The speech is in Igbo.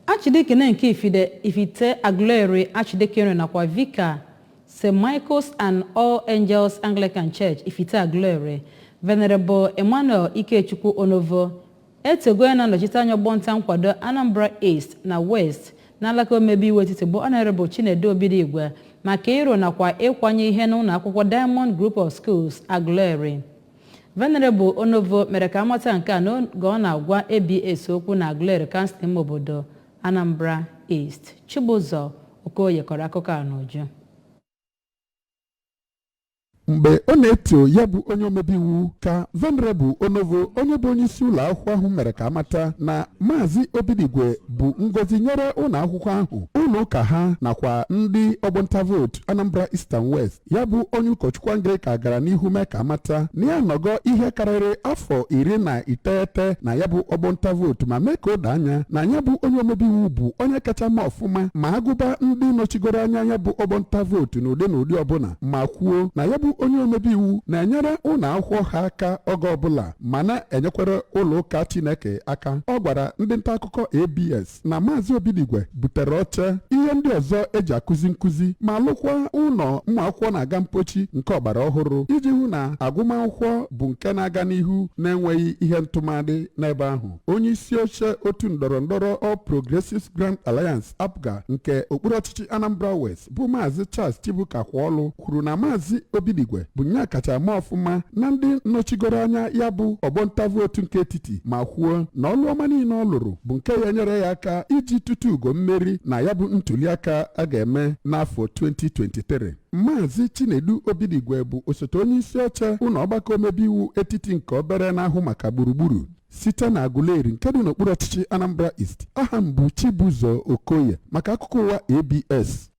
Archdeacon nke Ifide, Ifite Aguleri Archdeaconry nakwa Vicar St. Michael's and All Angels Anglican Church Ifite Aguleri, Venerable Emmanuel Ikechukwu Onovo, etogo onye na-anọchite anya ọgbọ nta nkwado Anambra East na West n'alaka omebe iwu etiti bụ Honorable Chinedu Obidigwe maka ịrụ nakwa ịkwanye ihe n'ụlọ akwụkwọ Diamond Group of Schools Aguleri. Venerable Onovo mere ka amata nke a n'oge ọ na-agwa ABS okwu na Aguleri kansụl ime obodo Anambra East. Chibụzọ Okoye kọrọ akụkọ a n'uju. Mgbe ọ na-eto ya bụ onye omebe iwu ka Venerable Onovo onye bụ onyeisi ụlọ akwụkwọ ahụ mere ka amata na Maazị Obidigwe bụ ngozi nyere ụlọ akwụkwọ ahụ, ụlọ ụka ha nakwa ndị ọgbọnta vootu Anambra East and West. ya bụ onye ụkọchukwu anglican gara n'ihu mee ka amata na ya anọgo ihe karịrị afọ iri na iteghete na ya bụ ọgbọ nta vootu ma mee ka o doo anya na ya bụ onye omebe iwu bụ onye kacha ma ọfụma ma agụba ndị nọchigoro anya ya bụ ọgbọ nta vootu n'ụdị n'ụdị ọbụla ma kwuo na ya bụ onye omebe iwu na-enyere ụlọ akwụkwọ ha aka oge ọbụla ma na-enyekwara ụlọ ụka chineke aka ọ gwara ndị nta akụkọ abs na maazị obidigwe butere oche ihe ndị ọzọ eji akụzi nkụzi ma lụkwa ụlọ ụmụ akwụkwọ na-aga mpochi nke ọgbara ọhụrụ iji hụ na agụmakwụkwọ bụ nke na-aga n'ihu na-enweghị ihe ntụmadị n'ebe ahụ onye isi oche otu ndọrọ ndọrọ All Progressives Grand Alliance APGA nke okpuru ọchịchị Anambra West bụ maazị Charles Chibuka Kwaọlụ kwuru na maazị Obidigwe bụ nya kacha ama ọfụma na ndị nọchigoro anya ya bụ ọgbọ nta vootu nke etiti ma kwuo na ọlụ ọma niile ọ lụrụ bụ nke ya-enyere ya aka iji tuta ugo mmeri na ya bụ ntuliaka a ga-eme n'afọ 2023 maazị chinedu obidigwe bụ osote onye isi oche ụlọ ọgbakọ omebe iwu etiti nke obere na-ahụ maka gburugburu site na aguleri nke dị n'okpuru ọchịchị anambra east aha m bụ chibuzo okoye maka akụkọ ụwa abs